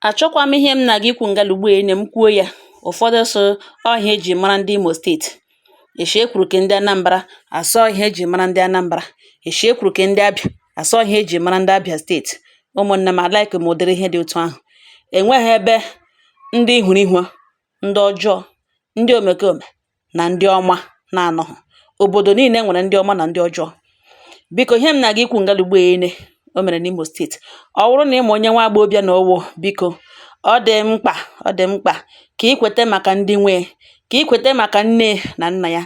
Achọkwa m ihe m na-aga ikwu ngalugbu ene m kwuo ya ụfọdụ sị ọ ihe eji mara ndị Imo steeti eshi ekwuru ke ndị Anambra asị ọ ihe eji mara ndị Anambra eshi ekwuru ke ndị Abịa asị ọ ihe eji mara ndị Abịa steeti ụmụnne m alaịkị m ụdịrị ihe dị otu ahụ enweghị ebe ndị ihuru ihua ndị ọjọọ ndị omekome nà ndị ọma na-anọghị òbòdò niile nwèrè ndị ọma nà ndị ọjọọ bikȯ ihe m nà-àga ikwu̇ ǹgalùgbù ene o mèrè nà imo steetì ọ wụrụ nà ị mà onye nwa agbọghọbịa nà ọwụ̇ bikȯ ọ dị mkpà ọ dị mkpà kà i kwète màkà ndị nwe kà i kwète màkà nne nà nnà ya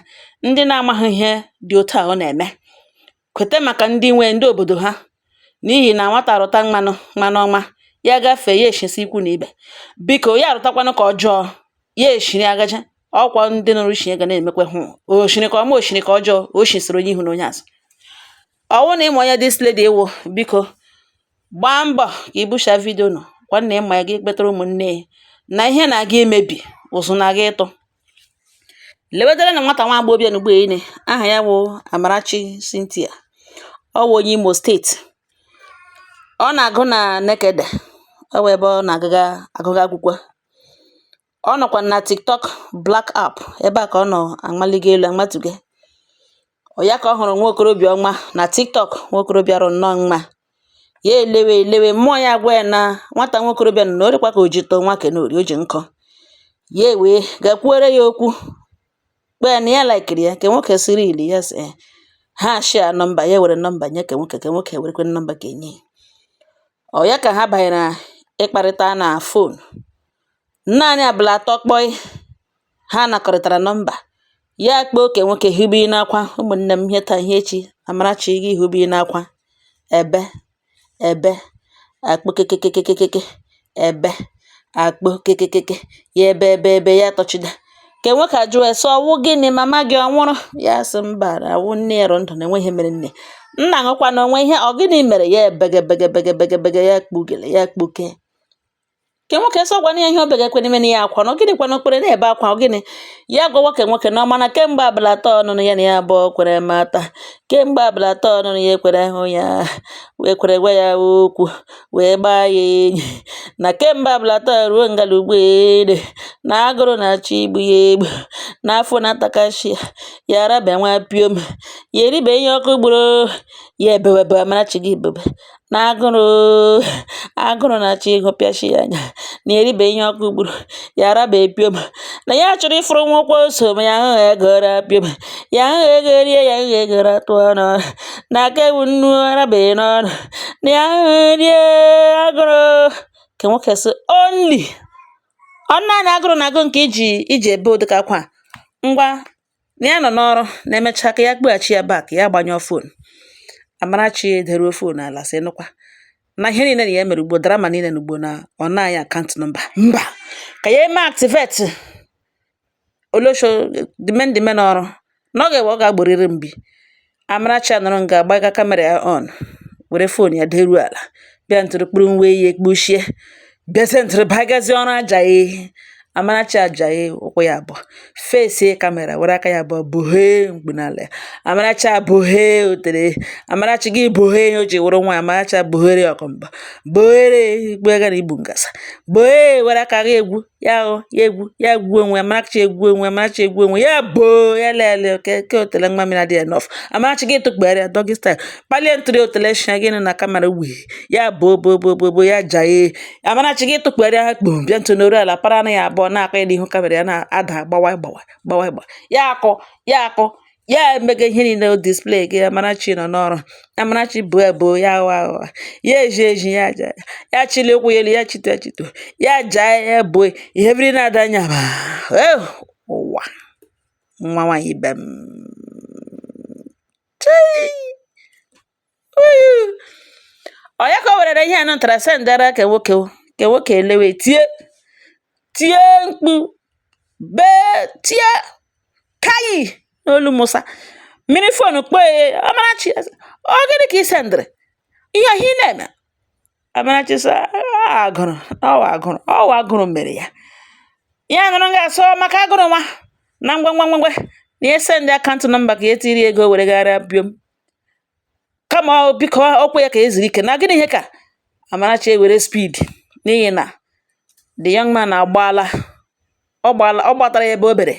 ndị na-amaghị ihe dị otu à ọ nà-ème Kweta maka ndị nwe ndị obodo ha n'ihi na nwata rụta mmanụ ọma ya gafee ya eshisi ikwu na ibe biko ya rụtakwanụ ka ọjọọ ya eshiri agaje ọkwa ndị nụrụ chie ga na-emekwa hụ o shiri ka ọma o shiri ka ọjọọ o shisiri onye ihu na onye azụ ọwụ na ịma onye dis lady ịwụ biko gbaa mbọ ka i busha vidio nọ gwa na ịma ya gị kpetara ụmụnne ya na ihe na-aga imebi ụzụ na-aga ịtụ lewedere na nwata nwa agbọghọbịa n'ugbo ene aha ya wụ Amarachi Cynthia ọ wụ onye Imo steeti ọ na-agụ na Nekede ọ wụ ebe ọ na-aga agụga akwụkwọ ọ nọkwa na TikTok Black app ebe a ka ọ nọ amaliga elu amatuge ọ ya ka ọ hụrụ nwa okorobịa ọma na tiktok nwa okorobịa rụ nnọọ mma ya elewe elewe mmụọ ya agwa ya na nwata nwa okorobịa nọ na ọ rịkwa ka o ji too nwoke nọ rị o ji nkọ ya ewee gakwuere ya okwu kpee na ya laikiri ya ke nwoke sị really ya sị eh, ha shia nọmba ya were nọmba nye ke nwoke ke nwoke werekwe nọmba ke e nye ọ ya ka ha banyere ịkparịta na fon Naanị abala atọ kpọị, ha nakọrịtara nọmba. Ya akpọọ ke nwoke hibe ị n'akwa, ụmụnne m ihe taa ihe echi, Amarachi gị hube ị n'akwa, ebe ebe akpo kekekekekeke ebe akpo kekekeke ya ebe ebe ebe ya tọchida ke nwoke ajụọ ya sị ọwụ gịnị mama gị ọ nwụrụ ya sị mba na awụ nne ya rị ndụ na enweghị ihe mere nne nna ṅụkwa na o nwe ihe ọ gịnị mere ya ebegebegebegebegebege ya kpugele ya kpuke ke nwoke sị ọ gwana ya ihe obe ga-ekwe n'ime ya akwa na ọ gịnị kwana okpere na-ebe akwa ọ gịnị ya gwawa ke nwoke na ọ ma na kemgbe abala atọ ọnụnụ ya na ya abụọ kwere mata kemgbe abala atọ ọnụnụ ya ekwere hụ ya wee kwere gwa ya okwu wee gbaa ya enyi na kemgbe abala atọ ruo ngalugbu ene na agụrụ na-achọ igbu ya egbu na afọ na-atakashi ya araba nwa piom ya eribe ihe ọkụ gburu ya ebewebe amarachi gị bebe na agụrụ agụrụ na-achọ ịgụpịachi ya anya na eribe ihe ọkụ gburu ya arabe piom na ya chọrọ ịfụrụ nwụkwa ose ma ya ahụghị ego ra piom ya ahụghị ego erie ya ahụghị ego ratụ ọnụ na aka ewu nnu arabeghị n'ọnụ na ya ahụghị rie agụrụ ke nwoke sị only ọ naanị agụrụ na agụ nke i ji ebe ụdịka akwa ngwa na ya nọ n'ọrụ na emechaa ka ya kpọghachi ya back ya gbanyụọ fon Amarachi ederuo fon ala sị nụkwa na ihe niile na ya mere ugbo drama niile na ugbo na ọ naanị akant nọmba mba ka ya eme activate olosho dimen dimen ọrụ na ọ ga-ewe ọ ga-agboriri mbi Amarachi anọrọ nga agbaga kamera ya on were fon ya deruo ala bịa ntụrụ kpụrụ nwa ehi ekpuchie bịazie ntụrụ bagazie ọrụ ajahee Amarachi ajahee ụkwụ ya abụọ fesie kamera were aka ya abụọ bohee mkpu n'ala ya Amarachi abohee otere Amarachi gị bohee ihe o ji wụrụ nwa Amarachi abohere ọkọmba bohere gbegara igbu ngasa bohee were aka gị egwu ya o ya egwu ya egwu onwe ya Amarachi egwu onwe ya Amarachi egwu onwe ya boo ya lele oke ke otele nwa mmiri adịghị enough Amarachi gị tụkpere ya doggy style kpalie ntụrụ otele shia gị nụ na kamera wee ya boo boo boo boo boo ya jahee Amarachi gị tụkpere ya kpom bịa ntụ n'oru ala para ara ya abụọ na-akụ ya n'ihu kamera ya na-ada gbawa gbawa gbawa gbawa ya akụ ya akụ ya emega ihe niile o display gị Amarachi nọ n'ọrụ Amarachi bụ ebo ya aghọ aghọ ya eji eji ya aja ya chili ụkwụ ya elu ya chito chito ya jaa ya ebo ihe biri na-ada anya ba eh, ụwa nwa nwaanyị ibe m ọ ya ka o werere ihe anụ ntara sendara ke nwoke ke nwoke elewe tie tie mkpu bee tie kayi n'olu Musa miri fon kpọọ ya Amarachi ọ gịnị ka ị sendịrị ihe ọhịa ị na-eme Amarachi sị agụrụ ọwa agụrụ ọwa agụrụ mere ya ya nụrụ ga-asọ maka agụrụ nwa na ngwa ngwa ngwa ngwa na esendị akantụ nọmba ka ya tiiri ego were gara piom kama biko okwu ya ka eziri ike na gịnị ihe ka Amarachi ewere speed n'ihi na the young man agbaala ọ gbaala ọ gbatara ya ebe o bere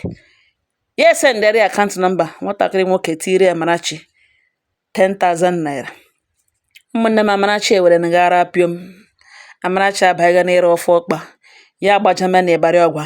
ya esendere ya akaụntụ nọmba nwatakịrị nwoke tiiri Amarachi 10,000 naira ụmụnne m Amarachi ewere na gara piom Amarachi abaghịga n'ịra ofe ọkpa ya agbajama na Ibari Ogwa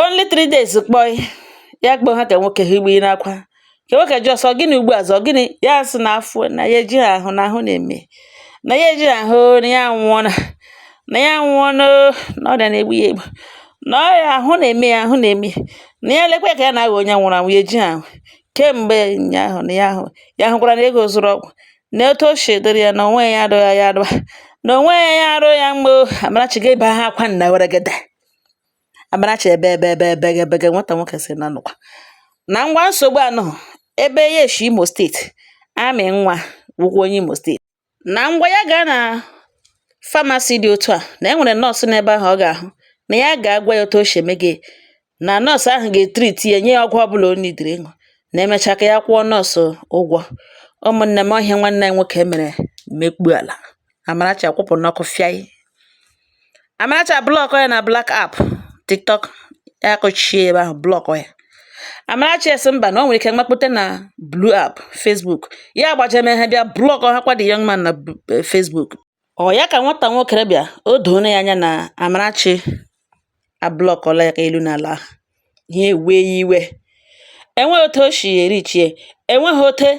Only three days kpọị ya kpọọ ha ka nwoke ha igbe n'akwa ka nwoke jụọ sị ọ gịnị ugbu a ọzọ gịnị ya sị na afọ na ya ejighị ahụ na ahụ na-eme na ya ejighị ahụ na ya nwụọ na na ya nwụọ na ọrịa na-egbu ya egbu na ọrịa ahụ na-eme ya ahụ na-eme na ya lekwa ka ya na-aghọ onye nwụrụ anwụ ya ejighị ahụ kemgbe ụnyaahụ na ya ahụ ya hụkwara na ego zụrụ ọgwụ na otu o si dịrị ya na onwe ya adịghị ya adịba na onwe ya arụ ya mgbe Amarachi ga-ebe ha akwa nna weregede Amarachi ebe ebe ebe ebe ebe ebe nwata nwoke si na nụkwa na ngwa nsogbu anọghị ebe ya eshi Imo steeti amị nwa wụkwa onye Imo steeti na ngwa ya gaa na famasi dị otu a na e nwere nọọsụ n'ebe ahụ ọ ga-ahụ na ya ga-agwa ya otu o si eme gị na nọọsụ ahụ ga-etriti ya nye ya ọgwụ ọbụla o nidiri ịṅụ na emechaa ka ya kwụọ nọọsụ ụgwọ ụmụnne m ọ ihe nwanne anyị nwoke mere mekpu ala Amarachi akwụpụ n'ọkụ fịaị Amarachi ablọkọ ya na black app TikTok ya kọchie ebe ahụ blọkọ ya Amarachi esi mba na ọ nwere ike mmakpute na blue app Facebook ya agbajeme ha bịa blọkọ ha kwa the young man na eh, Facebook ọ ya ka nwata nwoke a bịa o doona ya anya na Amarachi ablọkọla ya ka elu na ala ihe wee iwe enweghị otu o si erichi ya enweghị otu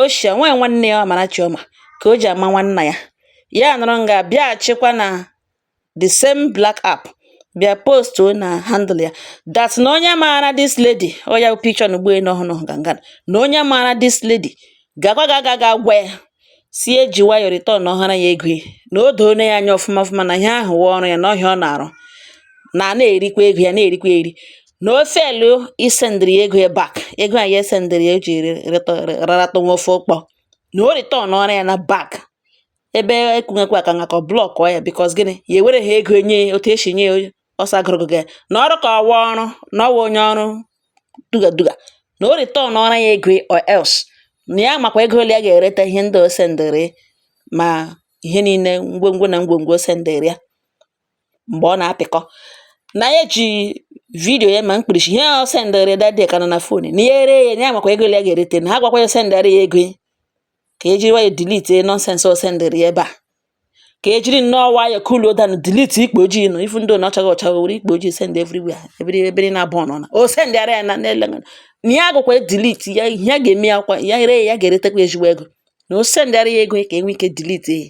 o si a nwaanyị nwanne ya Amarachi ọma ka o ji ama nwanna ya ya nọrọ nga bịaghachikwa na the same black app bịa post na handle ya that na onye maara this lady ọ ya picture na ugboelu ọhụrụ ọhụ ganga na onye maara this lady gakwa ga aga ga gwa ya sị ya jiri nwayọ returnọhara ya ego na o doona ya anya ọfụma ọfụma na ihe ahụ wụ ọrụ ya na ọ ihe ọ na-arụ na na-erikwa ego ya na-erikwa eri na ọ feelụ isendịrị ya ego ya back ego a ya sendịrị ya o ji rarata nwa ofe ụkpọ na o returnọrọ ya back ebe ekwughekwa ka ngakọ blọkọ ya because gịnị ya ewere ha ego enye ya otu esi nye ya ọsọ agụrụgụ gị na ọrụ ka ọ wụ ọrụ na ọ wụ onye ọrụ duga duga na o returnọrọ ya ego or else na ya makwa ego ole ya ga-ereta ihe ndị o sendịrị ma ihe niile ngwongwo na ngwongwo o sendịrị ya mgbe ọ na-apịkọ na ya ji vidiyo ya ma mkpirisi ihe ọ sendịrị dade ka nọ na fon na ya ere ya ya makwa ego ya ga-erete na ha gwakwa ya sendịrị ya ego ka e jiri ya dilite nọnsensị ọ sendịrị ya ebe a ka e jiri nnọọ nwayọ kuluo down dilite ikpu ojii nọ ifu ndị ọ na-achaghị ọcha gị were ikpu ojii send everywhere ebere ebere na-abụ ọnọ na o sendịara ya na n'ele na ya agaghịkwa dilite ya ihe a ga-eme ya kwa ya ere ya ya ga-eretekwa ezigbo ego na o sendịara ya ego ka e nwee ike dilite ya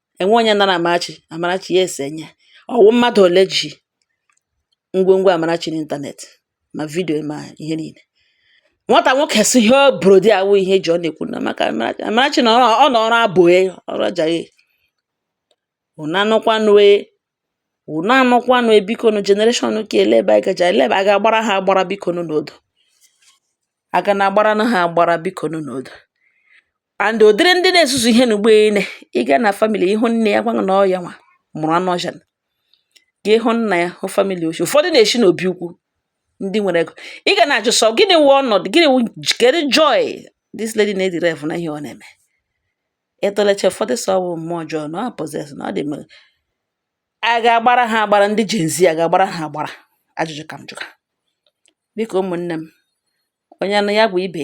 enwe onye nara Amarachi Amarachi ya ese nye ọ wụ mmadụ ole ji ngwongwo Amarachi n'ịntanetị ma vidio ma ihe niile nwata nwoke si ihe abroad awụ ihe ji ọ na-ekwu na maka Amarachi na ọ nọ ọrụ abụghị ọrụ ajaghị unu anụkwanụ e, unu anụkwanụ e, bikonu generation ka ele ebe anyị gaje ele ebe a ga-agbara ha agbara bikonu n'odo a ga na-agbara na ha agbara bikonu n'odo and ụdịrị ndị na-ezuzu ihe n'ugbo ene ị gaa na family ị hụ nne ya gwa gị na ọ yanwa mụrụ anụ ọsha gị hụ nna ya hụ family o shi ụfọdụ na-eshi n'obi ukwu ndị nwere ego ị ga na-ajụ sị ọ gịnị wụ ọnọdụ gịnị wụ kedu joy this lady na-ederive na ihe ọ na-eme ị tụlecha ụfọdụ sị ọ wụ mmụọ ọjọọ na ọ possess na ọ dị mere a ga-agbara ha agbara ndị Gen Z a ga-agbara ha agbara ajụjụ ka m jụka biko ụmụnne m onye anụ ya gwa ibe